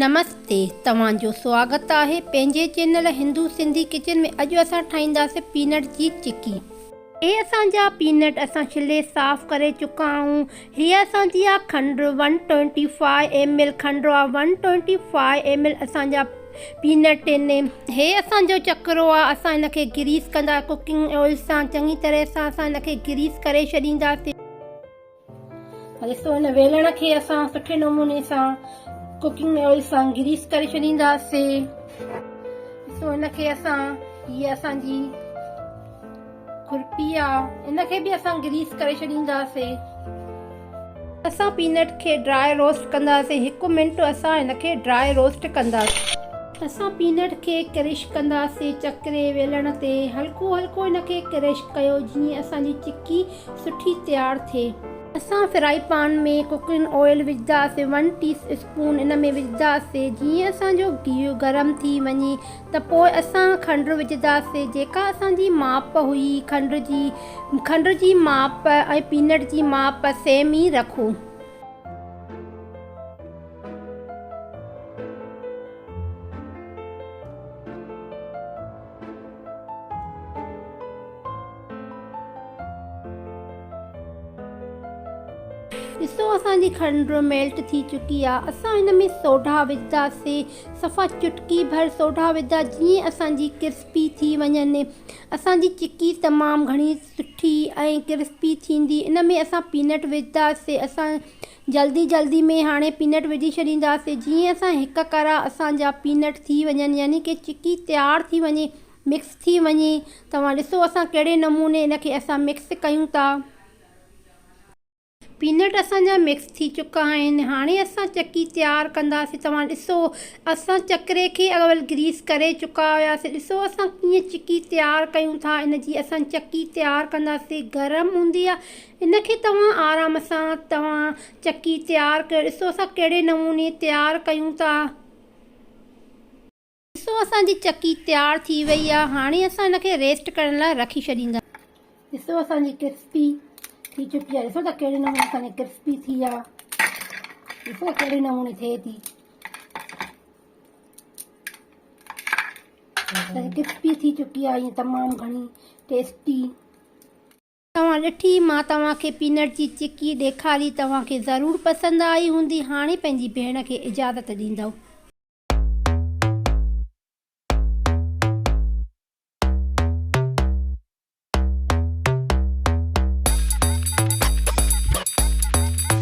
نمستي توهان جو سواگت آهي پنهنجي چينل هندو سنڌي ڪچن ۾ اڄ اسان ٺاهينداسي پينٽ جي چڪي اهي اسان جا پينٽ اسان ڇلي صاف ڪري چڪا آهيون هيء اسان جي آ کنڊ one twenty five M L کنڊ آ one twenty five M L اسان جا پينٽ ان هي اسان جو چڪرو آ اسان ان کي گريس ڪندا ڪوڪنگ آئل سان چڱي طرح سان اسان ان کي گريس ڪري ڇڏينداسين ڏسو ان ويلڻ کي اسان سٺي نموني سان ڪوڪنگ آئل سان گريس ڪري ڇڏينداسين ڏسو ان کي اسان هي اسان جي کرپي آ ان کي به اسان گريس ڪري ڇڏينداسين. اسان پينٽ کي ڊراء روسٽ ڪنداسين هڪ منٽ اسان هن کي ڊراء روسٽ ڪنداسين. اسان پينٽ کي ڪرش ڪنداسين چڪري ويلڻ تي هلڪو هلڪو هن کي ڪرش ڪيو جيئن اسان جي چڪي سٺي تيار ٿئي. اسان فرائي پان ۾ ڪوڪنگ آئل وجهداسين ون ٽي اسپون ان ۾ وجهداسين جيئن اسان جو گيهه گرم ٿي وڃي ته پوء اسان کنڊ وجهنداسين جيڪا اسان جي ماپ هئي کنڊ جي کنڊ جي ماپ ۽ پينٽ جي ماپ سيم ئي رکون. ڏسو اسان جي کنڊ ميلٽ ٿي چڪي آهي اسان هن ۾ سوڍا وجهنداسين. صفا چٽڪي ڀر سوڍا وڌا جيئن اسان جي ڪرسپي ٿي وڃن. اسان جي چڪي تمام گهڻي سٺي ۽ ڪرسپي ٿيندي. ان ۾ اسان پينٽ وجهندا سي. اسان جلدي جلدي ۾ هاڻي پينٽ وجهي ڇڏيندا سي جيئن اسان هڪ ڪرا اسان جا پينٽ ٿي وڃن يعني ڪي چڪي تيار ٿي وڃي مڪس ٿي وڃي. توهان ڏسو اسان ڪهڙي نموني ان کي اسان مڪس ڪيون ٿا. پينٽ اسان جا مڪس ٿي چڪا آهن هاڻي اسان چڪي تيار ڪنداسين توهان ڏسو اسان چڪري کي اول گريس ڪري چڪا هياسين ڏسو اسان ڪيئن چڪي تيار ڪيون ٿا ان جي اسان چڪي تيار ڪنداسين گرم هوندي آهي ان کي توهان آرام سان توهان چڪي تيار ڪيو ڏسو اسان ڪهڙي نموني تيار ڪيون ٿا. ڏسو اسان جي چڪي تيار ٿي وئي آ هاڻي اسان ان کي ريسٽ ڪرڻ لاء رکي ڇڏيندا. ڏسو اسان جي ڪرسپي ٿي چڪي آ ڏسو ته ڪهڙي نموني اسان جي ڪرسپي ٿي آ ڏسو ته ڪهڙي نموني ٿئي ٿي ڪرسپي ٿي چڪي آ ائين تمام گهڻي ٽيسٽي توهان ڏٺي مان توهان کي پينٽ جي چڪي ڏيکاري توهان کي ضرور پسند آئي هوندي هاڻي پنهنجي ڀيڻ کي اجازت ڏيندؤ.